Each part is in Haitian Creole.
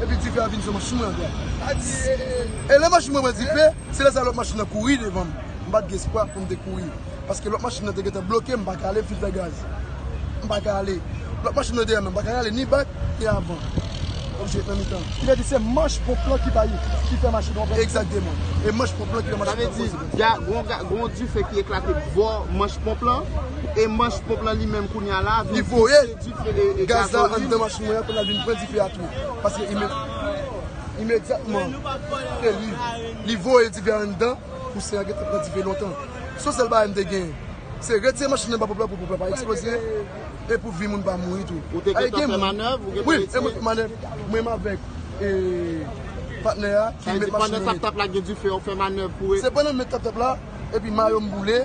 Epi dife a vin sou machin mwen ankò. E lè machin mwen pran dife, se lè sa lòt machin nan kouri devan m. M pa t gen espwa pou m te kouri. Paske lòt machin nan te gentan bloke m, m pa ka ale filtè gaz. M pa ka ale. Lòt machin nan dèyè mwen, m pa ka rale ni bak, ni avan. Fòk m jwe nan mitan. Ki vle di se manch ponp lan ki bay, ki fè machin an pran dife. Egzakteman. E manch ponp lan ki fè machin an pran dife. Sa vle di, gen yon dife ki eklate bò manch ponp lan, e manch ponp lan li menm kounya la vin pouse dife. Gaz la anndan machin mwen an kounye a vin pran dife a tou. Paske imedyatman ke li voye dife a anndan, kousen an gentan pran dife lontan. Son sèl bagay m te gen. Se retire machin anba pòp la pou pòp la pa eksploze e pou vi moun pa mouri tou. Ou te gentan fè manèv? Ou gentan retire? Wi, mwen fè manèv. Mwen menm avèk patnè a ki met machin nan. Sa vle di pandan tap tap la gen dife ou fè manèv pou. Se pandan m met tap tap la epi mayo m boule.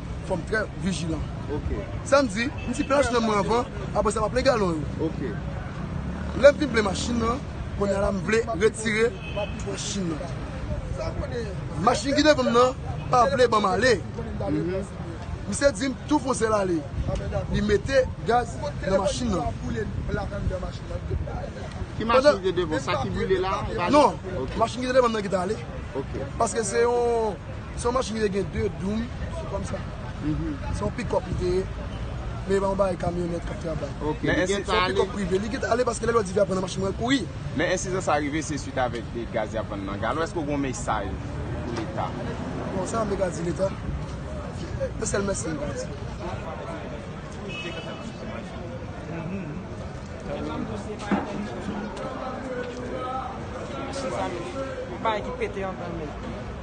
fò m trè vijilan. Sa m di, m di plen machin mwen anvan, apre sa m ap plen galon yo. Lè m fin plen machin nan, kounye a la m vle retire machin nan. Machin ki devan m nan pa vle ban m ale. Misye di m tou fon sèl ale. Li mete gaz nan machin nan. Ki machin ki te devan w? Sa ki boule la? Non, machin ki te devan m nan ki t ale. Paske se yon Se yon machin ki te gen 2 doum, se kòm sa. Se yon pick up li te ye. Men e pa yon bagay kamyonèt k ap travay. Men ensidan sa ale. Se yon pick up prive. Li gen tan ale paske lè li wè dife ap pran nan machin mwen, l kouri. Men ensidan sa rive se swit avèk de gaz y ap vann nan galo. Èske ou gen yon mesaj pou Leta? Bon, sa mwen te ka di Leta? Yon sèl mèsi mwen ka di.